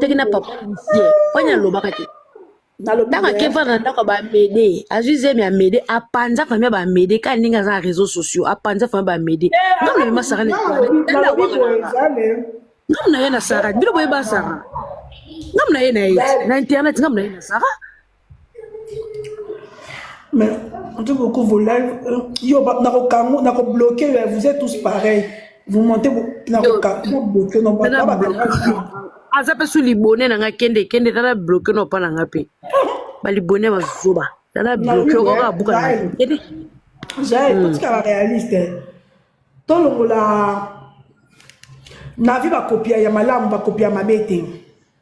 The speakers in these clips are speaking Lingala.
teki na papa lucie wani alobaka te ntango akefana na ndako ya bamede azwi zemi ya mede apanza fami ya bamede kaka ndenge aza na réseau sociaux apanza fami ya bamede ngambo na ye masara ngambo na ye na sara bino boyeba sara ngambo na ye na ye na internet ngambo na ye na sara Mais on dit beaucoup vos lives. Euh, yo, nako kango, nako bloqué. Euh, vous êtes tous pareils. Vous montez, nako kango, bloqué. Non, pas pas aza mpe su libone na nga kende kende tala bloke na opa na nga mpe balibone bazoba tala bloke okoka abuka na kende jael hmm. totika barealiste eh. tolongola na vie bakopia ya malamu bakopia mabe te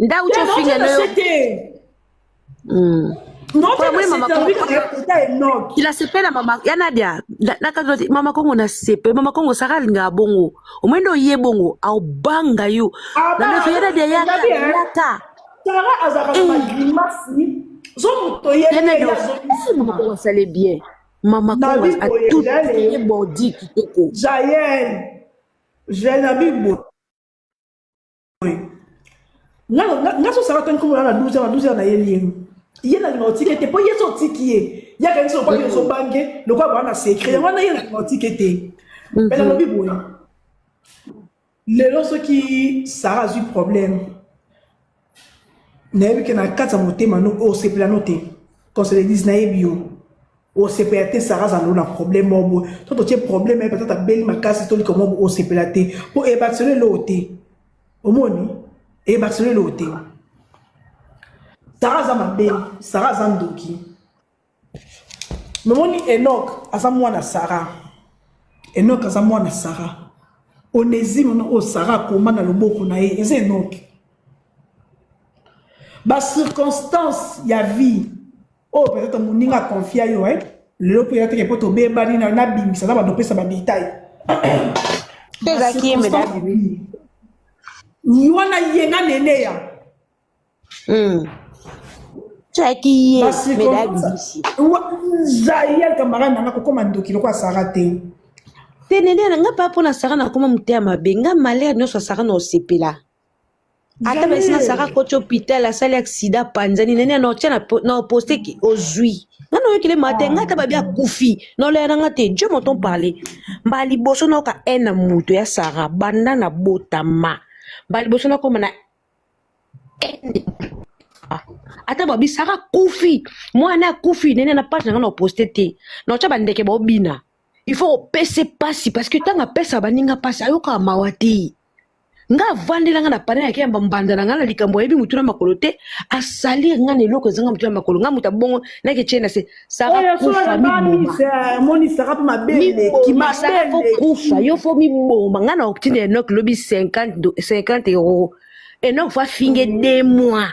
Ndau cho finga no yo. nasepela mama ya nadia nakati mama kongo nasepela mama kongo saka alingaka bongo omoi nde oye bongo aobanga yo nalofa ya nadia yaka yaka asale bien mama kongo atutye bordi kitoko jael jael na bibo nga sosala tani komona na 12 na 12 na ye lienu ye na linga otiki ete mpo ye so otiki ye ye akanisi lokola yo ozobange lokola baa na secret yango wana ye na linga otiki ete mpe nalobi boye lelo soki sara azwi problème nayebi ke na kati ya motema no osepela no te qu'on se le dise nayebi yo osepela te sara aza lona problème moko boye to totie problème ye peut-être abeli makasi tolika moko boye osepela te mpo ebakiselo eloko te omoni ebakiselo eloko te sara aza mabe sara aza ndoki nomoni enok aza mwana sara enok aza mwana sara onezime na oyo sara akoma na loboko na ye eza enoki bacirconstance ya vie oyo peut être moninga aconfia yo eh? lelo mpe eyateke mpo tobebani nayo nabimisa na bando opesa badetail mpe ezalaki ye mbeda abimi wana ye na neneya ezalaki ye mbeda abimisi zayel kamara nanga kokoma ndoki lokola sara te te neneya na nga mpa mpo na sara nakoma moteya mabe nga malere nyonso ya sara na osepela ata basi na sara koti hôpital asali accident apanzani nani ana otya na po- na poste ki ozwi nga nayoki le matin nga ata babi akufi naoleya na nga te dieu m'entend parler mbala liboso nayoka haine na moto ya sara banda na botama mbala liboso nakoma na haine Ah, ata babi sara akufi mwana akufi nene na page na nga na poste te naotya bandeke baobina il faut opese pasi parce que ntango apesa baninga pasi ayokaka mawa te nga avandi na nga na pane yake ya mbanda na nga na likambo ayebi motu na makolo te asali nga na eloko ezanga motu na makolo nga moto abongo nake tie na se sarakufa yo fo miboma nga na oktine enok lobi 50 euro enok fa finge de mois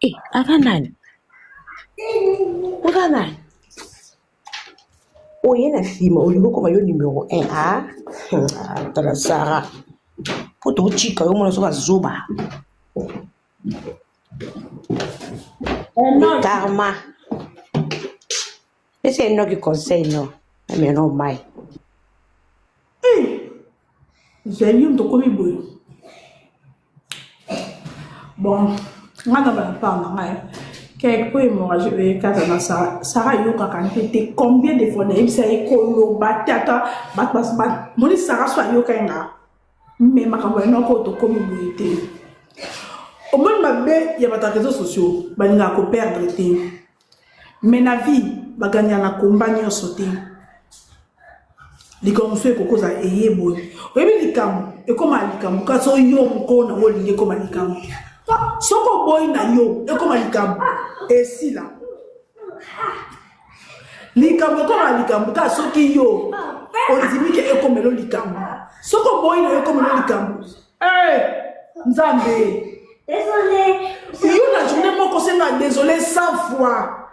Eh, aza nani? Oza nani? Oye na nsima olingi okoma yo numero 1 ah? ah, tala Sara po tokotika yo mona soka zoba karma Pesa ye noki conseil no. Mais no mai. ezali yo moto okomi boye bon nga na balapart na ngai keke po hémorragie oyo ekata na sara sara ayokaka mpe te combien de fois nayebisa ye koloba te ata bato basba moni sara so ayoka ye nga me makambo ya noko tokomi boye te omoni mabe ya bato ya réseau sociaux balingaka koperdre te mais na vie baganya na komba nyonso te likambo mosusu ekokoza eye boye oyebi likambo ekoma likambo kasi oyo moko nango olingi ekoma likambo soki oboyi na yo ekoma likambo esila likambo ekoma likambo kaka soki yo ondimi ke ekomelo likambo soki oboyi na yo ekomelo likambo Hey, Nzambe. Désolé. Yo la journée moko senga désolé 100 fois.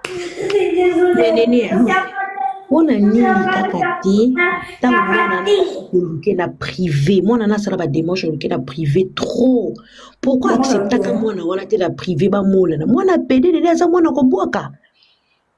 Désolé. Nini? mpona nini kaka te ntango mwana oluke na privé mwana na asala bademarche oluke na privé trop pourkui acceptaka mwana wana te na privé bamonana mwana pede nene aza mwana kobwaka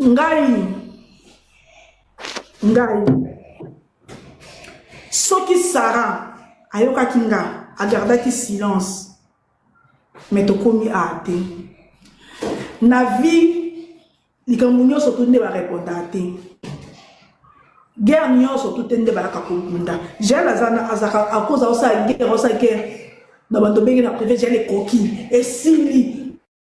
ngai ngai soki sara ayokaki nga agardaki silence me tokomi a te na vie likambo nyonso tu nde bareponda te guerre nyonso tu te nde bayaka kobunda jel azaka akoza osala guerre osala guerre na bato obenge na prive jel ekoki esili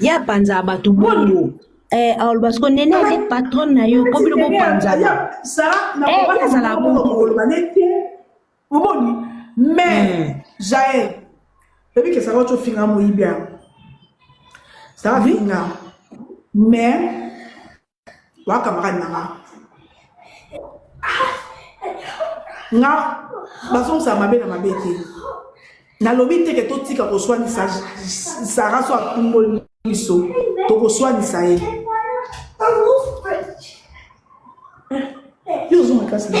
Ye apanzaka batu bongo eh aloba siko nene nde patronne na yo po bino bopanzana eh ye azalaka bongo omoni mais hmm. jael oyebi ke saka oco finga moyibi yango saka finga mais wa camarade na nga nga bazongisa mabe na mabe te nalobi te ke totika koswanisa sara so atumboli biso tokoswanisa ye yo ozonga kasi na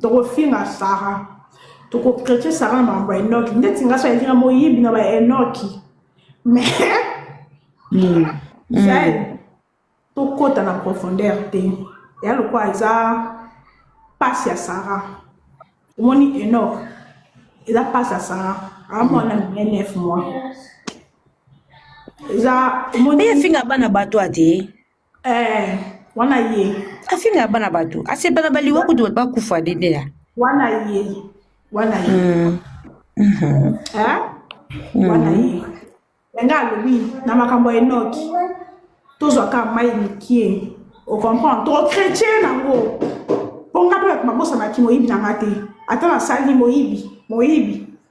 Toko finga Sarah. Toko traiter Sarah na mambo ya Enoki. Ndeti nga sa yinga moyibi na ba Enoki. Mais mm. Jael mm. tokota na profondeur te. Ya lokwa eza pasi ya Sarah. Omoni Enoch eza pasi ya Sarah. Amwana mm. 9 mois. Eza omoni efinga bana bato ate. Eh, wana ye. Afinga bana bato. Asepela baliwa kutu bato bakufa dedeya. Wana ye. Wana ye. Mm. Mm -hmm. Eh? Mm. Wana ye. Nga alobi na makambo ya Enoki. Tozwa ka mai mikie. O comprendre? To chrétien nango. Ponga pe bato babosanaki moyibi na nga te. Ata nasali moyibi, moyibi.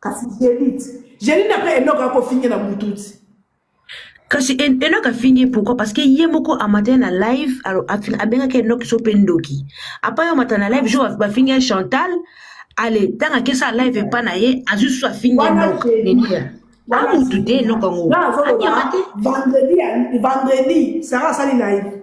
kasi delite jeline apres enoka akofinge na bluetooth kasi enoki afingi ye pourquoi parce que ye moko amataya na live abengaki enoki so mpe ndoki apa yo amata na live jour bafingi ye chantal ale ntango akesa live epa na ye azwi susu afingi enoki nenia amutu te enoki yango akema te vendredi sara asali live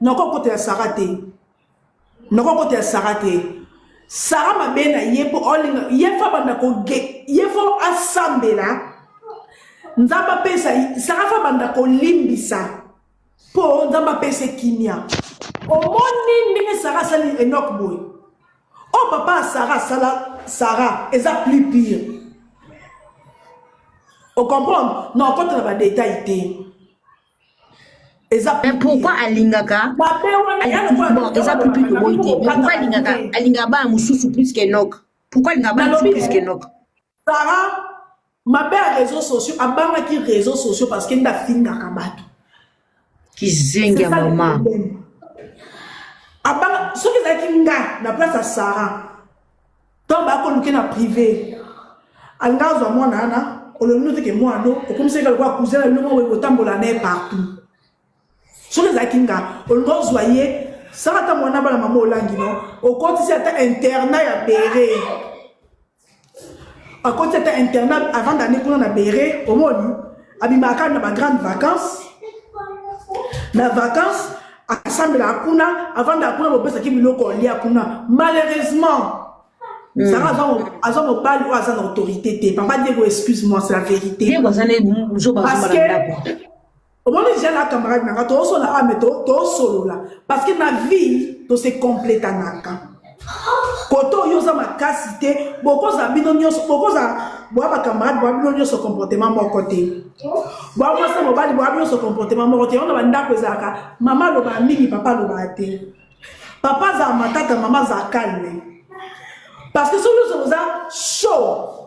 noko kota ya sara te noko kota ya sara te sara mabe na ye mpo olinga ye fo abanda koge ye fo asambela nzambe apesa sara fo abanda kolimbisa mpo nzambe apesa kimia omoni ndenge sara asali enok boye o oh, papa ya sara asala sara eza plus pire ocomprendre na okota na badetail te eza mais pourquoi alingaka eza pipi toboyi te mais pourquoi alingaka alingaka bana mosusu plus que nok pourquoi alingaka bana mosusu plus que nok sara mabe ya réseau sociaux abangaki réseau sociaux parce que nde afingaka bato kizengi ya mama soki ezalaki nga na place ya sara Donc ba ko luke na privé. Anga azwa mwana ana olomino te ke mwana no okomisa ka kwa cousin na bino mwa kotambola na ye partout. Soki ezalaki nga olinga ozwa ye sala ata mwana bana mama olangi no okotisi ata internat ya bere akoti ata internat avant d'année kuna na bere omoni abimaka na ba grande vacances na vacances asambelaka kuna avandaka kuna bopesaki biloko olia kuna malheureusement hmm. zara aza mobali oyo aza na autorité te papa diego excuse moi c'est la vérité parce que omoni ja na camarade nanga toosolola ame ah, tosolola parce que na vie tose completanaka kote oyo oza makasi te bokozala bino nyonso bokozala bwa bakamarade bwa bino nyonso comportement moko te bwa mwasi na mobali bwa nyonso comportement moko te yango na bandako ezalaka mama alobaka mingi papa alobaka te papa azala matata mama azala calme parce que soki nyonso boza show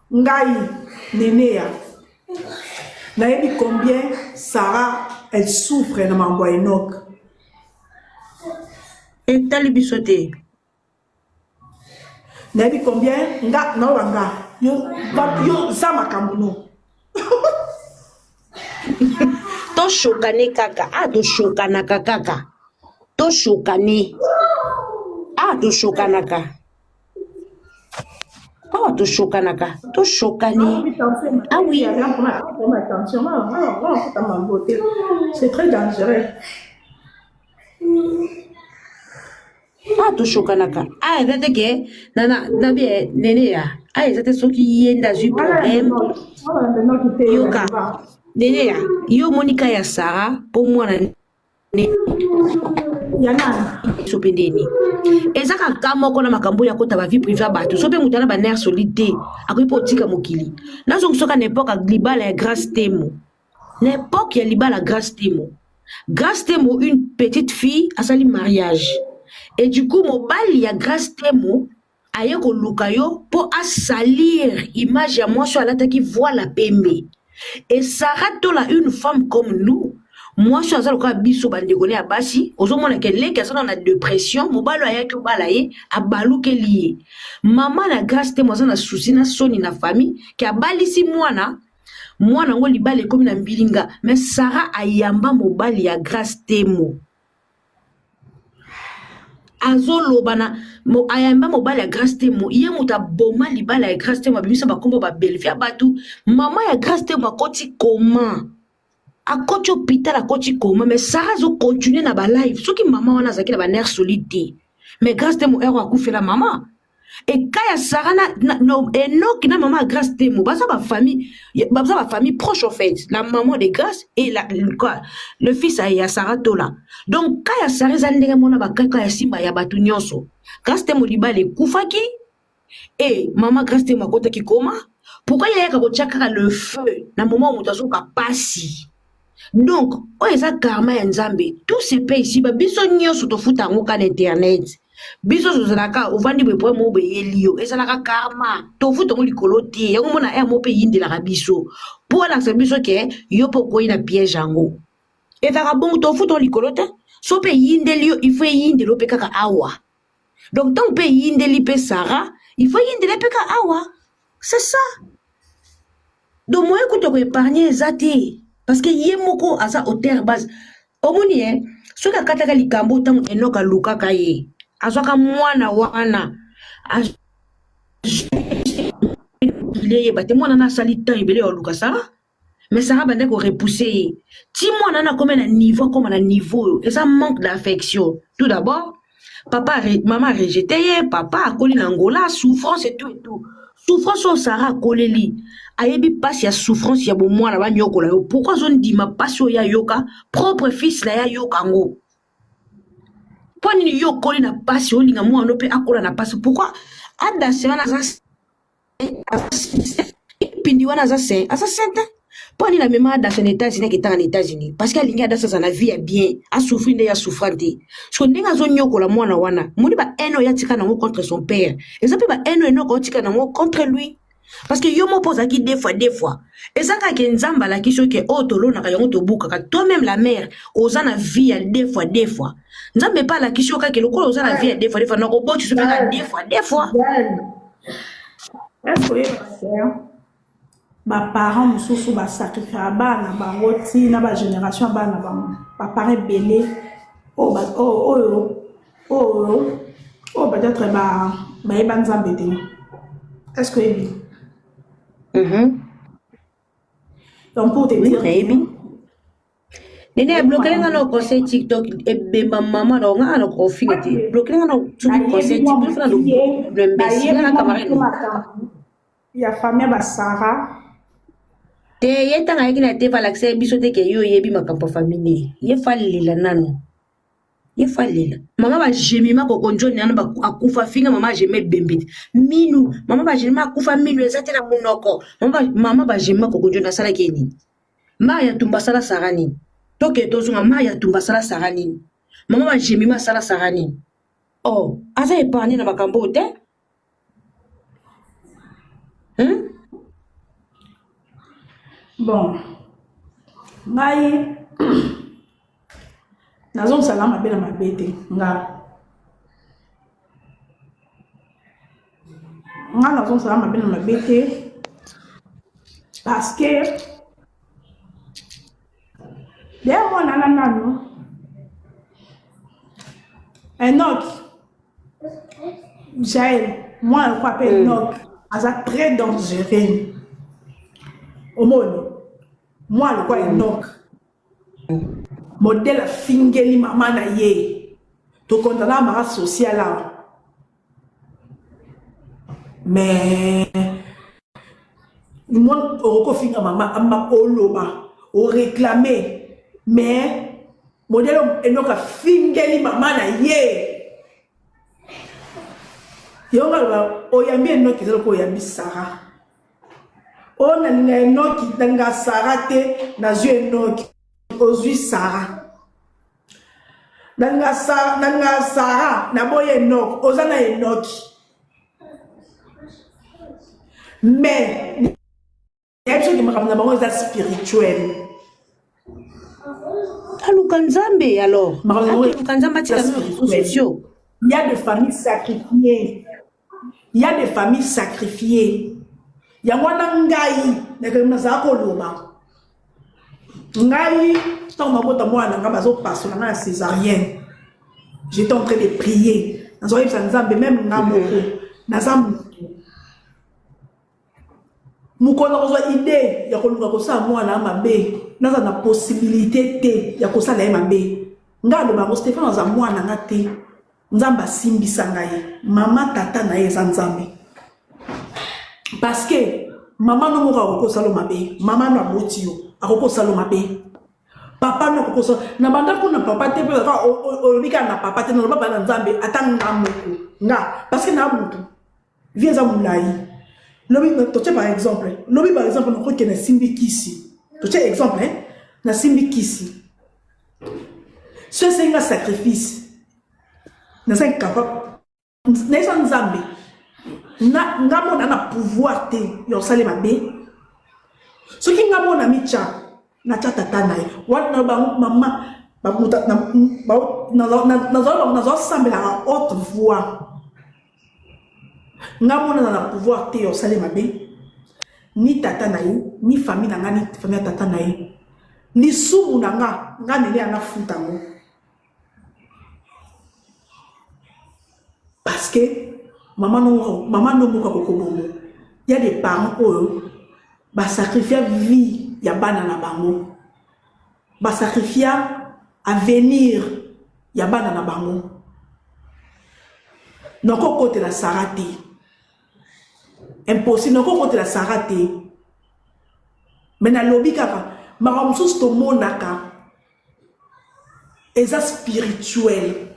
Ngai neneya nayebi combien Sarah elle souffre na makambo ya Enoch. Etali biso te. Nayebi combien nga naola nga yo yo za makambo no. toshokane kaka a ah, toshokanaka kaka toshokane a ah, toshokanaka awa toshokanaka toshokani awi awa toshokanaka awa eza te ke nabi nene ya awa eza te soki ye nde azwi problème yoka nene ya yo omoni ka ya sara mpo mwana ya nani biso mpe ndeni eza kaka moko na makambo oyo akota bavie prive ya bato so mpe moto ana baner solide te akoki mpe otika mokili nazongisoka na epoke ya libala ya grace temo na epoke ya libala grace temo grace temo une petite fille asali mariage et du coup mobali ya grace temo aye koluka yo po a salir image ya mwasi oyo alataki voile ya pembe et Sarah tola une femme comme nous mwasi oyo aza lokola biso bandeko ne ya basi ozomona ke leki aza na depression mobali oyo ayaki obala ye abalukeli ye mama na grace temo aza na susi na soni na famille ke abalisi mwana mwana yango libala ekomi na mbilinga mais Sarah ayamba mobali ya grace temo azoloba na ayamba mobali ya grace temo ye moto aboma libala ya grace temo abimisa bakombo ba bellevue ya bato mama ya grace temo akoti koma akoti hopital akoti koma mais sara azocontinue na balive soki mama wana azalaki na banerre solide te mais grace temo ero akufela mama ekai ya sara na, na, na enoki na mama ya grace temo baza bafamille baza bafamille proche en fait la maman de grace et la, le, le fils ya sara tola donc ka ya sara eza ndenge mona bakaka ya simba ya bato nyonso grace temo libala ekufaki e mama grace temo akotaki koma pourkui yayaka kotya kaka le feu na moma moto azoka pasi donc oyo eza karma ya nzambe tout se paye ici ba biso nyonso tofuta yango ka na internet biso tozalaka ovandi boye problème oyo beyeli yo ezalaka karma tofuta yango likolo te yango mona emo mpe eyindelaka biso mpo alakisa biso ke yo mpe okwei na piège yango ezalaka bongo tofuta yango likolo te so mpe eyindeli yo il faut eyindeli yo mpe kaka awa donc ntango mpe eyindeli mpe sara ifo eyindele mpe ka awa c'est ça donc moye kutu ya koepargne eza te parce que ye moko aza auteur base omoni ye soki akataka likambo ntango enoka alukaka ye azwaka mwana wana azwile yeba te mwana na asali temps ebele ya oluka sara mais Sarah bande ko repousser ye ti mwana na koma na niveau koma na niveau oyo eza manque d'affection tout d'abord papa maman a rejete ye papa akoli na Angola souffrance et tout et tout souffrance oyo Sarah akoleli ayebi pasi ya souffrance ya bomwana banyokola yo pourquoi azondima pasi oyo ayoka propre fils na ye ayoka yango mpo nini yo okoli na pasi olinga mwana mpe akola na pasi pourquoi adase wana aza pindi wana aza saint aza saint te mpo anini amema adasa na etats-unis aketaka na etats-unis parce que alingi adasa aza na vie ya bien asouffrir nde ya souffra te so ndenge azonyokola mwana wana moni ba haine oyo atika nango contre son père eza mpe ba haine oyo enoko otika nango contre lui parce que yo moko mpo ozalaki de fois de fois eza kaka ke nzambe alaki soki oyo oh, tolonaka yango tobukaka toi meme la mare oza na vie ya de fois de fois nzambe mpe alakisi yo kaka lokola oza na vie ya de fois de fois nakoboti so mpe ka de fois de fois Est-ce que ba parents mosusu ba sacrifiera bana bango ti na ba generation ya bana bango ba parents ebele oyo ba- oyo oyo oyo oyo peut-être ba bayeba nzambe te est-ce que oyebi Mhm. Donc pour te dire. Nayebi. Nene ya bloquer nga na conseil TikTok ebemba mama na nga na confine te. Bloquer nga na tu conseil TikTok na do. Mbesi na camarade. Ya famille ba Sarah. Te ye tanga yaki na te valakisa biso te ke yo yebi makambo famille. Ye falela nanu. ye fa lela mama ba gemima koko njo nano akufa finga mama ageme ebembe te minu mama ba gemima akufa minu eza te na monoko mama ba gemima koko njo nasalaki ye nini maya ya tumba asala sara nini toke tozonga maya ya tumba asala sara nini mama ba gemima asala sara nini oh aza epargne na makambo oyo te hmm? bon ngai nazongisaka mabe na mabe te nga nga nazongisaka mabe na mabe te parce que deya mwana na nano enoki jael mwana lokola mpe mm. nok aza très dangereux omoni mwana lokola mm. enok modele afingeli mama na ye tokondana mara social awa mais mwana okokofinga mama oloba oreklame mais Modelo enoka fingeli mama na ye. Yonga ba oyambi enoki zelo ko oyambi Sarah. O na linga enoki tanga Sarah te na zui enoki ozui Sarah. Nanga Sarah nanga Sarah na boye enoki oza na enoki. Mais nayebi soki makambo na bango eza spirituel aluka nzambe alors Makambo yango- aluka nzambe atika That's bino spirituel. sosio Il y a des familles sacrifiées. Il y a des familles sacrifiées. yango wana ngai nakende nazala koloba ngai ntango mabota mwana na ngai bazopasola ngai na césarienne j'étais en train de prier nazoyebisa nzambe meme ngai moko naza moto mokolo nakozwa ide ya koluka kosala mwana ya mabe naza na posibilite te ya kosala ye mabe ngai aloba yango stefano aza mwana nga te nzambe asimbisa ngai mama tata na ye eza nzambe parceke mama no moko akoki osalo mabe mama no aboti yo akoki osalo mabe papa no akoki osalo na bandako na papa te mpe kaka olobi kaka na papa te noloba bana nzambe ata nga moko nga parceke na motu vie eza molai lobi totie par exemple lobi par exemple nakoki kende simbi kisi totie exemple eh? nasimbi kisi so esengi nga sacrifice naza incapable nayesa nzambe nga mona na pouvoir te ya kosala mabe soki nga mona mitya natya tata na ye wana na bango mama nazala sambelaka haute voix Nga monana na pouvoir te ya osali mabe ni tata na ye ni famille na nga ni famille ya tata na ye lisumu na nga nga nene ya nafuta yango parce que mama no mama no moko kokobongo ya des parents oyo ba sacrifier vie ya bana na bango Ba sacrifia avenir ya bana na bango. Noko kotela Sarah te. Impossible noko kotela Sarah te. Mais nalobi kaka makambo mosusu tomonaka eza spirituel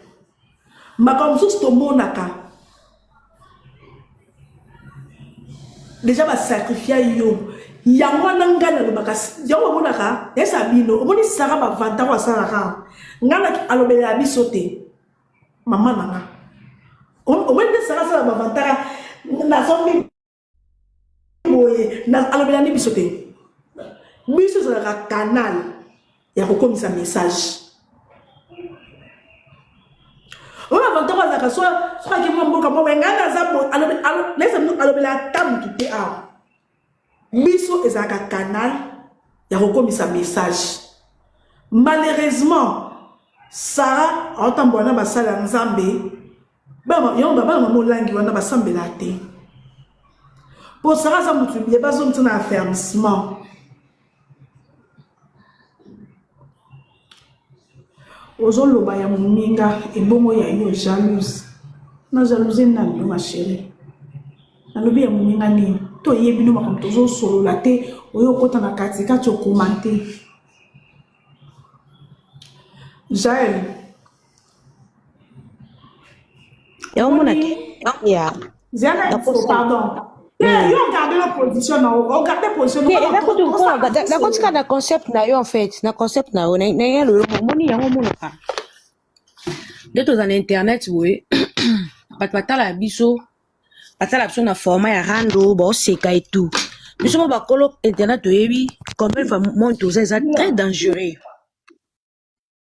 makambo mosusu tomonaka deja basakrifia yo yango wana ngai nalobaka yango omonaka esa bino omoni sara bavanta oyo asalaka ngai na alobela ya biso te mama na nga omoni nde sara asala bavantaka nazombi boye na alobela nde biso te biso ezalaka canal ya kokomisa message oyo avantage azalaka so soki akimi na mboka moko engai naza naisa alobela ata motu te awa biso ezalaka canal ya kokomisa message malheureusement sara aotambola na basali ya nzambe yango babala mama olangi wana basambela te mpo sara aza motu biye bazongisa na affermissement ozoloba ya moninga ebongo ya yo jalouse na jalouse nani yo ma chérie nalobi ya moninga nini toyebi no makambo tozosolola te oyo okota na katikati okoma te jael yango mona te ya nakotika na concept na yo en fait na concept na yo naye lolo omoni yango omonaka nde toza na internet boye bato batala ya biso batala biso na format ya rando baoseka etout biso mo bakolo internet toyebi combien va monde toza eza très dangereux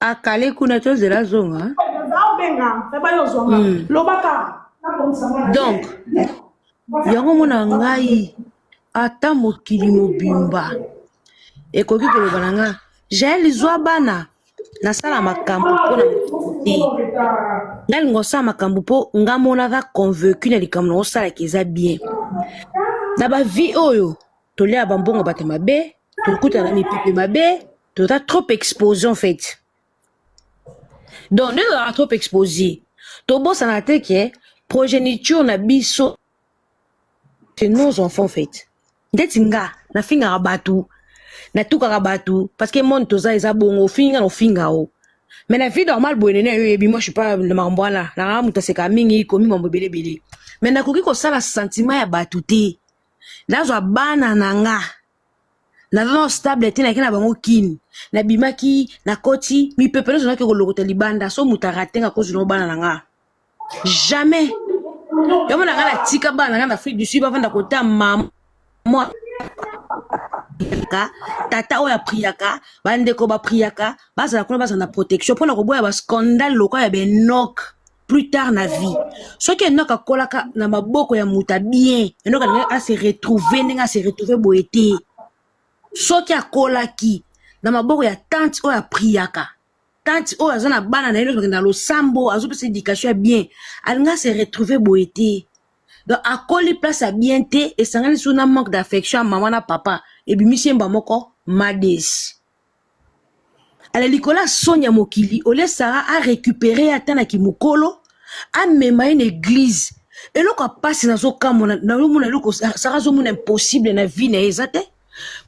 akale kuna tozela azonga hmm. donc yango mona ngai ata mokili mobimba ekoki koloba na nga jael zwa bana nasala makambo mpo na te nga linga osala makambo mpo nga monaka convaincu na likambo na osalaka eza bien na bavie oyo tolia ba mbongo bato mabe tokutana na mipepe mabe toza trop expose en fait donc nde tozalaka trop expose tobosana te ke progéniture na biso c'est nos enfants en fait ndeti nga nafingaka bato natukaka bato parce que monde toza eza bongo ofingi nga na ofinga o mais na vie normale boye nene yo oyebi moi je suis pas na makambo wana nanga moto aseka mingi komi mambo ebelebele mais nakoki kosala sentiment ya bato te nazwa bana na nga naza na stable te nake na bango kini nabimaki nakoti mipepe nyonso nake kolokota libanda so moto arate nga kozwi na bana na nga jamais yango na nga natika bana na nga na afrique du sud bavanda kota mama priaka tata oyo apriaka bandeko bapriaka bazala kuna bazala na protection mpona koboya bascandale lokola ya benok plus tard na vie soki enoka akolaka na maboko ya moto ya bien enoka ndenge ase retrouve ndenge ase retrouve boye te soki akolaki na maboko ya tante oyo apriyaka tante oyo aza na bana na ye nokende na losambo azopesa éducation ya bien alinga ase retrouve boye te donc akoli place ya bien te esangani su na manque d'affection ya mama na papa ebimisi yemba moko mades ale likolo ya soni ya mokili olie sara a récupere ye ata na kimokolo amema ye na eglize eloko ya mpasi nazokamona nazomona eloko sara azomona impossible na vie na ye eza te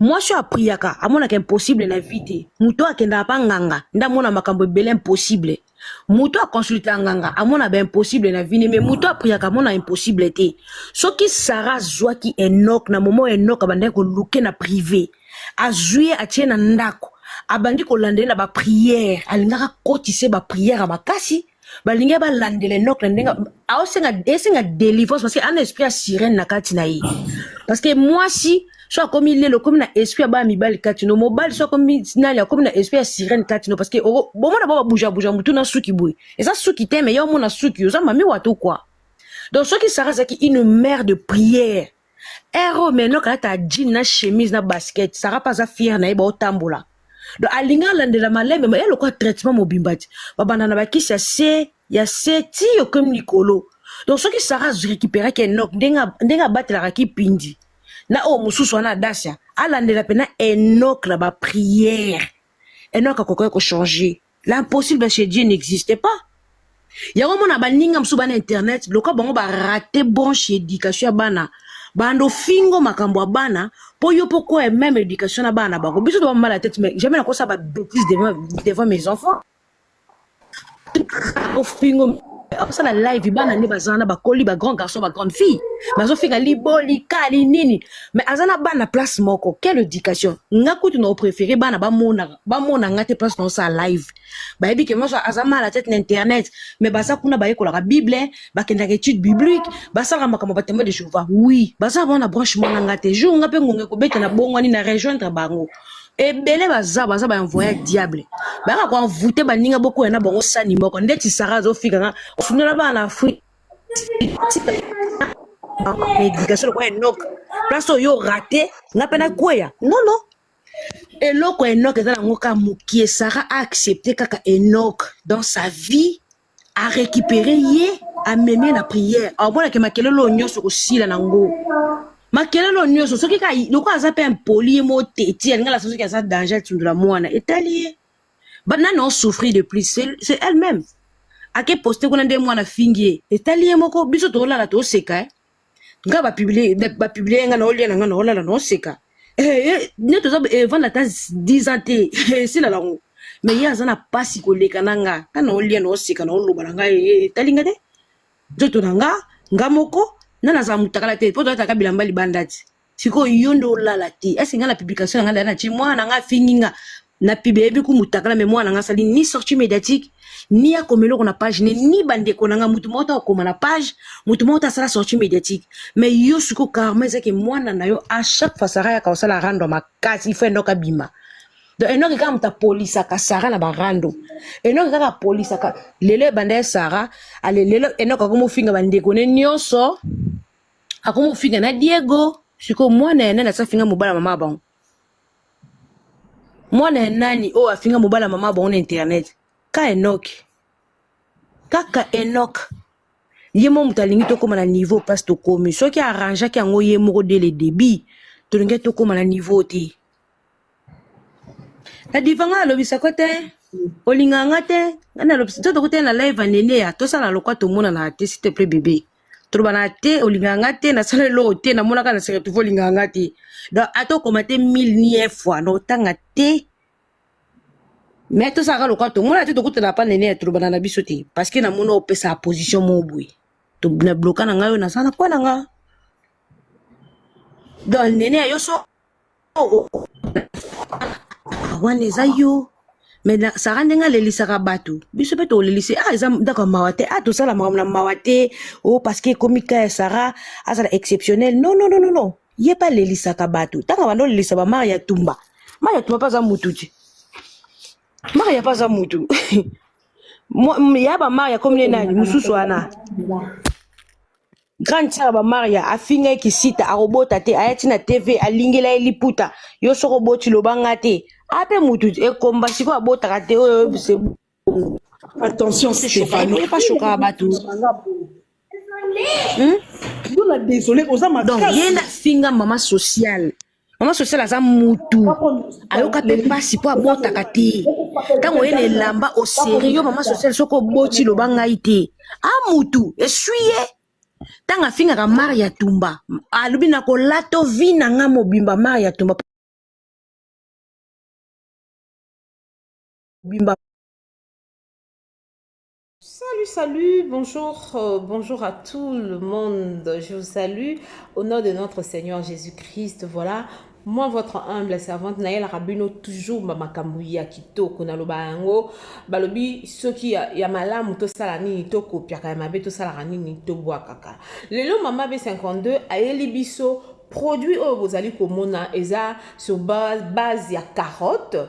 mwasi oyo apriyaka amonaka impossible na vie te moto oyo akendaka mpa nganga nde amona makambo ebele impossible moto aconsulta nganga amona baimpossible na vini me moto apriaka amona impossible te soki sara azwaki enok na momo enok abandaki koluke na prive azwi ye atie na ndako abandi kolanda ye na bapriere alingaka kotise bapriere ya makasi balingi balandela enok na ndenge aosenga esenga délivrance parce que ana esprit ya sirène na kati na ye parce que mwasi so akomi lelo okomi na esprit ya bana mibali kati no mobali so akomi nani akomi na esprit ya sirène kati no parce que bomona ba babujabuja motu na suki boye eza suki te me ya omona suki oza mami wato kua donc soki sara azalaki une mère de prière Ero eh, maintenant kalata ya jean na chemise na basket Sarah pas aza fière na ye baotambola donc alingi alandela malembe ma ye lokola traitement mobimba ti babanda na bakisi ya se ya se ti okomi likolo donc soki Sarah récupéraki enok ndenge abatelaka kipindi na oyo mosusu wana adasia alandela mpena enok na baprière enok akokaki kochanger L'impossible chez Dieu n'existe pas. Yango mona baninga mosusu bana internet loka bango ba rate branche education ya bana bando fingo makambo ya bana po yo po quoi même education na bana bango biso toba mala tête mais jamais nakosa ba bêtises devant devant mes enfants ofingo akosala live bana nde baza na bakoli ba grand garçon ba grande fille bazofinga liboli kali nini mais aza na bana place moko quelle éducation nga kutu na opréféré bana bamonaka bamona nga te place naosala live bayebi ke moso aza mal à tete na internet mais baza kuna bayekolaka bible bakendaka étude biblique basalaka makambo batembe de jehova oui baza bango na branchement na nga te jour nga mpe ngonga ekobeta na bongwani na rejoindre bango ebele baza baza baenvoye ya diable bayaka koenvoute baninga bokoya na bango sani moko ndeti sara azofika nga ofundola bana na afrique éducation lokola enoka place oyo orate nga mpe nakweya nono eloko Enoch eza nango kaka mukie Sarah a accepter kaka Enoch dans sa vie a récupérer ye amemie na prière aomona ke makelele oyo nyonso kosila nango makelele oyo nyonso soki kaka lokola aza mpe impoli ye mo teti alinga lasa soki aza danger atindola mwana etali ye banani on souffrir de plus c'est elle-même ake poste kuna nde mwana fingi ye etali ye moko biso toolala tooseka eh? nga ba publier ba publier nga na olia na nga na olala na oseka eh, eh ne toza eh, vanda ta 10 ans te eh, sila lango mais ye aza na pasi koleka na nga nga na olia na oseka na oloba na nga eh, eh, etali nga te nzoto na nga nga moko na nazala motakala te mpo toyataka bilamba libanda ti sikoyo yo nde olala te ese nga na publication yanga lana ti mwana nga afingi nga na pibe yebi ku mutakala me mwana nga asali ni sortie médiatique ni akoma eloko na page ne ni bandeko na nga motu moko akoma na page motu moko asala sortie médiatique me yo sikoyo karma ezaki mwana na yo a chaque fois sara yaka osala rando makasi ifo endoka bima donc enoki kaka moto apolisaka sara na barando enoki kaka apolisaka lelo ebanda ye sara ale lelo enoki akomi ofinga bandeko ne nyonso akomofinga na diego sikoyo mwana ya nani asi afinga mobala mama bango mwana ya nani oyo afinga mobala mama bango na internet ka enoki kaka enoki ye moko moto alingi tokóma na niveau mpasi tokómi soki arrangeaki yango ye moko de le débit tolingaki tokóma na niveau te na diva ngai alobisa ko te olinga nga te ngai nalobisa to tokuta na live ya nene ya tosala lokwa tomonana te s'il te plaît bebe tolobana te olinga nga te nasala eloko te namonaka na sere tuvo olinga nga te donc ata okoma te mille nie fois na otanga te mais tosalaka lokwa tomona te tokutana pa nene ya tolobana na biso te parce que namoni opesa position moko boye na bloka na ngai oyo nasala mpo na nga donc nene ya yo so wana eza yo mais na sara ndenge alelisaka bato biso mpe tolelise ah eza ndako ya mawa te ah tosala makambo na mawa te o oh, parce que ekomi ka ya sara azala exceptionnel non non non non ye mpe alelisaka bato ntango banda olelisa bamare ya tumba mare ya tumba mpe aza mutu te mare ya mpe aza mutu ya bamare ya komi ne nani mosusu wana grande sœur ba maria afinga ye kisita akobota te aya ti na tv alingela ye liputa yo soko oboti loba nga te ape mutu ekomba sikoyo abotaka te oyo oyebise bongo Attention Shokaka, Stéphano. boye pas shokaka bato. Hmm? Yo na désolé oza donc ye makasi. nde afinga mama sociale mama sosiala aza mutu ayoka mpe mpasi mpo abotaka te ntango oye na elamba oserio mama sosiala soki oboti loba ngai te a mutu eswi ye ntango afingaka mare ya tumba alobi na kolata vi na ngai mobimba mare ya tumba mobimba Salut, salut, bonjour, euh, bonjour à tout le monde. Je vous salue au nom de notre Seigneur Jésus-Christ. Voilà, moi votre humble servante Naël Rabino toujours ba makambo ya kitoko naloba yango balobi soki ya, ya malamu tosala nini tokopiaka ya mabe tosalaka nini tobwakaka lelo mama be 52 ayeli biso produit oyo bozali komona eza sur base, base ya carotte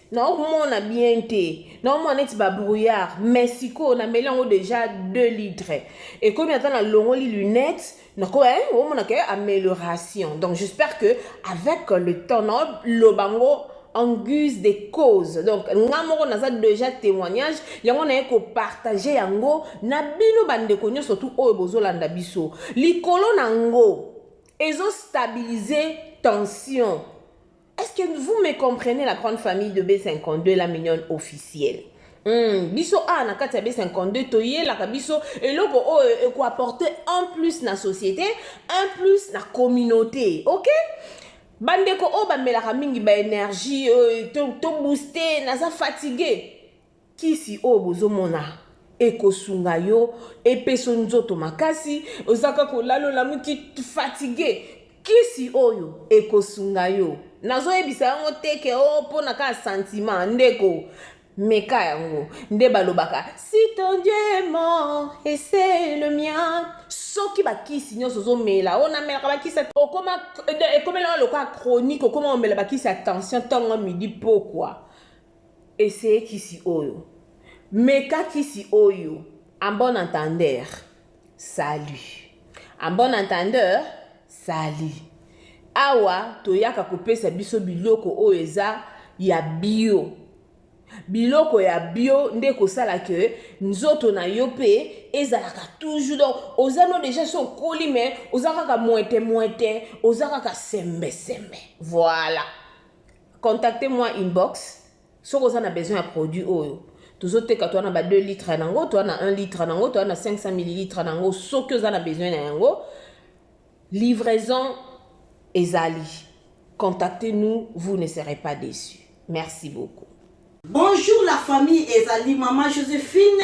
naomona bien te naomona neti babrouillard mais sikoyo nameli yango déjà 2 litre ekomi ata nalongoli lunette nako eh, omona ke amélioration donc j'espère que avec le temps naoloba yango en guise de cause donc nga moko naza déjà témoignage yango naye kopartage yango na bino bandeko nyonso tu oyo bozolanda biso likolo na yango ezostabilize tension Est-ce que vous me comprenez la grande famille de B52 la mignonne officielle Mm, biso a na kati ya B52 toyelaka biso eloko oyo oh, ekoapporte un plus na société un plus na communauté ok bandeko oyo oh, bamelaka mingi baénergie euh, tobooste to naza fatigue Kisi oyo bozo mona ekosunga yo epeso nzoto makasi oza kaka olali olamuki fatigue kisi oyo ekosunga yo nazo yebisa yango te ke o oh, pona kaka sentiment ndeko meka yango nde balobaka si ton dieu est mort et c'est le mien soki bakisi nyonso ozomela oyo namelaka bakisi okoma ekomela lokola chronique okoma omela bakisi ya tension ntango midi pokwa Essayer kisi oyo. Meka kisi oyo. En bon entendeur, salut! En bon entendeur, salut! Awa toyaka kopesa biso biloko oyo eza ya bio. Biloko ya bio nde ekosala que nzoto na yo mpe ezalaka toujours donc oza no deja so okoli mais oza kaka mwete mwete oza kaka sembe sembe voilà Contacte moi inbox soki oza na besoin ya produit oyo tozo teka toana ba 2 litre nango toana 1 litre nango toana 500 millilitre nango soki oza na besoin na yango livraison ezali contactez nous vous ne serez pas déçu merci beaucoup Bonjour la famille ezali maman Josephine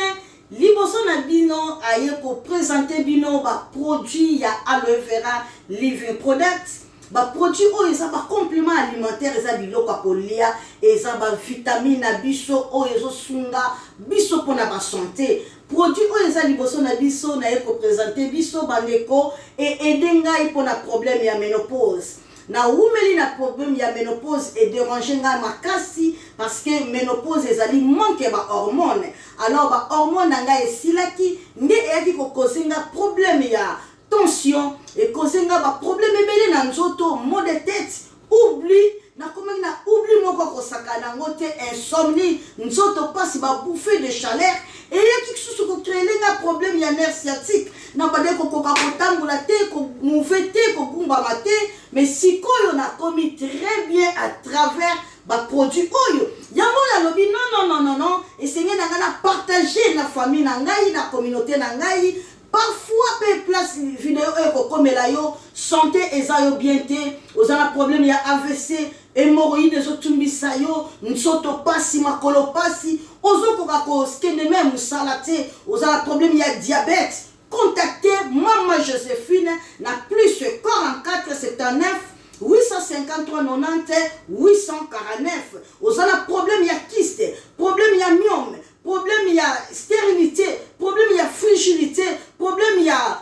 liboso na bino aye ko presenter bino ba produits ya aloe vera living products ba produits oyo eza ba complément alimentaire eza biloko ya kolia eza ba vitamine na biso oyo ezosunga biso mpona ba sante produit oyo eza liboso na biso naye ko presenter biso bandeko e aide ngai mpona problème ya menopause Na wumeli na problème ya menopause et déranger nga makasi parce que menopause ezali manque ya ba hormones alors ba hormones na nga esilaki nde eyaki ko cause nga problème ya tension et cause nga ba problème ebele na nzoto maux de tête oubli nakomaki na oubli moko akosaka nango te insomnie nzoto pasi ba bouffée de chaleur eyaki kisusu ko créer nga problème ya nerf sciatique na bande kokoka kotambola te komove te kogumbama te mais sikoyo nakomi très bien à travers baproduit oyo yango oyo alobi nonnononono esengeli na ngai na partage na famille na ngai na communauté na ngai parfois mpe place video oyo ekokomela yo sante eza yo bien te oza na problème ya avc Hemorroïde ezo tumbisa yo, nsoto pasi, makolo pasi, ozo koka ko kende meme musala te, oza na problème ya diabète, contactez mama Josephine na plus 44 79 853 90 849. Oza na problème ya kyste, problème ya myome, problème ya stérilité, problème ya frigilité, problème ya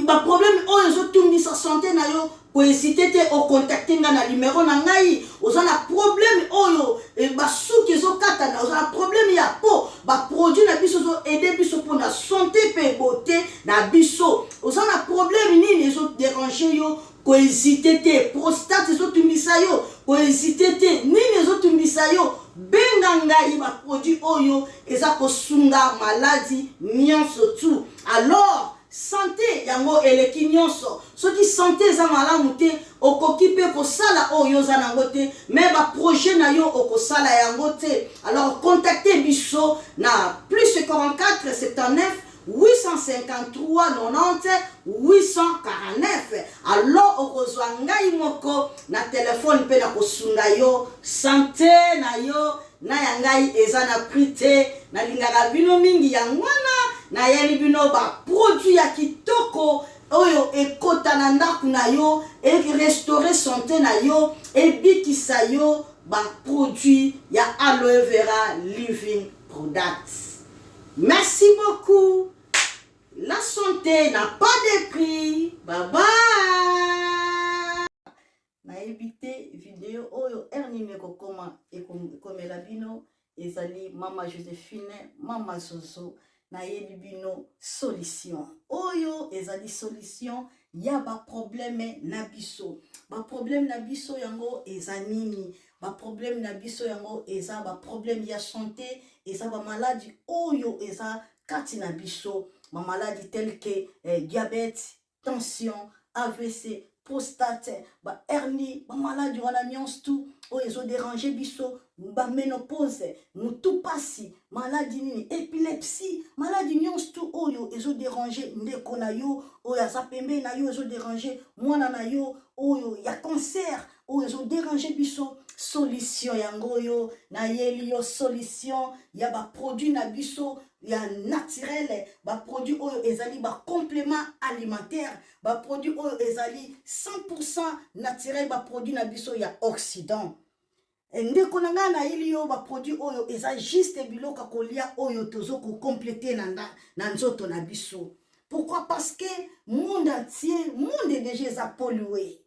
ba problème oyo ezotungisa sante na yo koezite te okontakte ngai na limero na ngai oza na problème oyo eh, basuki ezokatana oza na problème ya po baproduit na biso ezoede biso mpo na sante mpe bote na biso oza na problème nini ezoderange yo Ko hesiter te, prostate ezo tungisa yo, ko hesiter te, nini ezo tungisa yo, benga ngai ba produits oyo eza ko sunga maladi nionso tu alors sante yango eleki nionso, soki sante eza malamu te okoki pe ko sala oyo yo oza nango te mais ba projets nayo oko sala yango te alors contacter biso na plus 44 79 853 90 849 alors okozwa ngai moko na telephone mpe na kosunga yo sante na yo na ya ngai eza na prix te nalingaka bino mingi yango wana nayeli bino ba produit ya kitoko oyo ekota na ndako na yo erestore sante na yo ebikisa yo ba produit ya aloe vera living products Merci beaucoup la sante na pas de prix bye bye nayebi te video oyo heure nini ekokoma ekomela bino ezali mama josephine mama zozo nayebi bino solution oyo ezali solution ya baprobleme na biso baprobleme na biso yango eza nini ba problème na biso yango eza ba problème ya santé eza ba maladi oyo eza kati na biso ba maladi tel que eh, diabète tension avc prostate ba hernie ba maladi wana nyonso tout oyo ezoderange biso baménopause motu mpasi maladi nini epilepsie maladi nyonso tu oyo ezoderange ndeko na yo oyo aza pembeni na yo ezoderange mwana na yo oyo ya cancer oyo ezo déranger biso solution yango oyo nayeli yo solution ya baproduit na biso ya naturel baproduit oyo ezali bacomplément alimentaire baproduit oyo ezali 100 naturel baproduit na biso ya occident eh, ndeko na ngai nayeli yo baproduit oyo eza juste biloko ya kolia oyo tozo kocomplete na, na, na nzoto na biso pourquoi parce que monde entier monde deja eza polue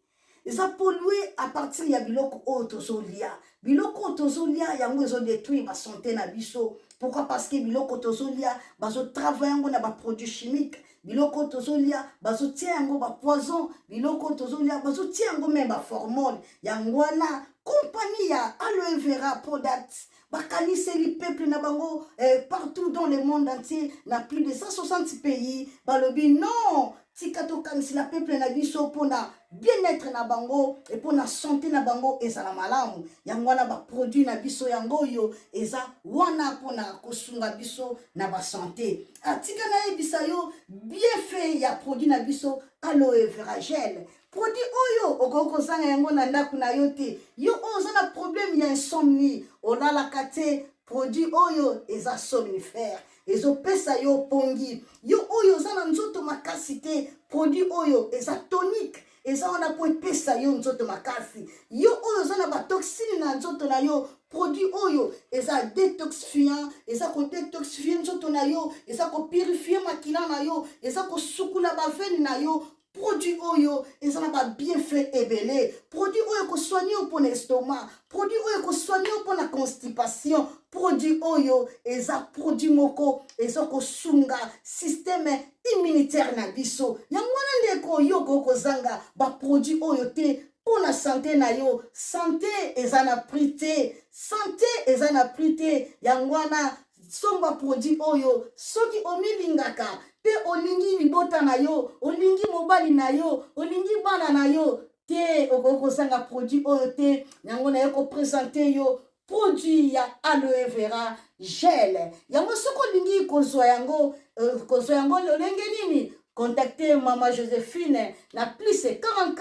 eza polue à partir ya biloko oyo tozolia biloko oyo tozolia yango ezodétruire basante na biso pourquoi parce que biloko tozolia bazotravaille yango na baproduit chimique biloko tozolia bazotia yango bapoison biloko tozolia bazotia yango meme baformone yango wana kompani ya aloe vera product bakaniseli peuple na bango eh, partout dans le monde entier na plus de 160 pays balobi non tika tokanisela peuple na biso mpona bien-être na bango e mpona sante na bango ezala malamu yango wana baproduit na biso yango oyo eza wana mpona kosunga biso na basante atika nayebisa yo bienfait ya produit na biso aloe veragele produit oyo okoki kozanga yango na ndako na yo te yo oyo oza na problème ya insomnie olalaka te produit oyo eza somnifère ezopesa yo pongi yo oyo oza na nzoto makasi te produit oyo eza tonique eza wana mpo epesa yo nzoto makasi yo oyo oza na batoxine na nzoto na yo produit oyo eza detoxifiant eza kodetoxifie nzoto na yo eza kopurifie makila na yo eza kosukula bavene na yo produit oyo eza na babienfait ebele produit oyo ekosoigne yo mpo na estomac produit oyo ekosoigne yo mpo na constipation produit oyo eza produit moko eza kosunga systeme immunitaire na biso yango wana nde ekoyoka okozanga baproduit oyo te mpo na sante na yo sante eza na prix te sante eza na prix te yango wana somba produit oyo soki omilingaka mpe olingi libota na yo olingi mobali na yo olingi bana na yo te okoki kozanga produit oyo te yango na yo kopresente yo produit ya aloe vera gel yango soki olingi kozwa yango euh, kozwa yango lolenge nini Contactez Maman Josephine na plus 44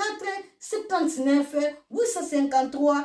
79 853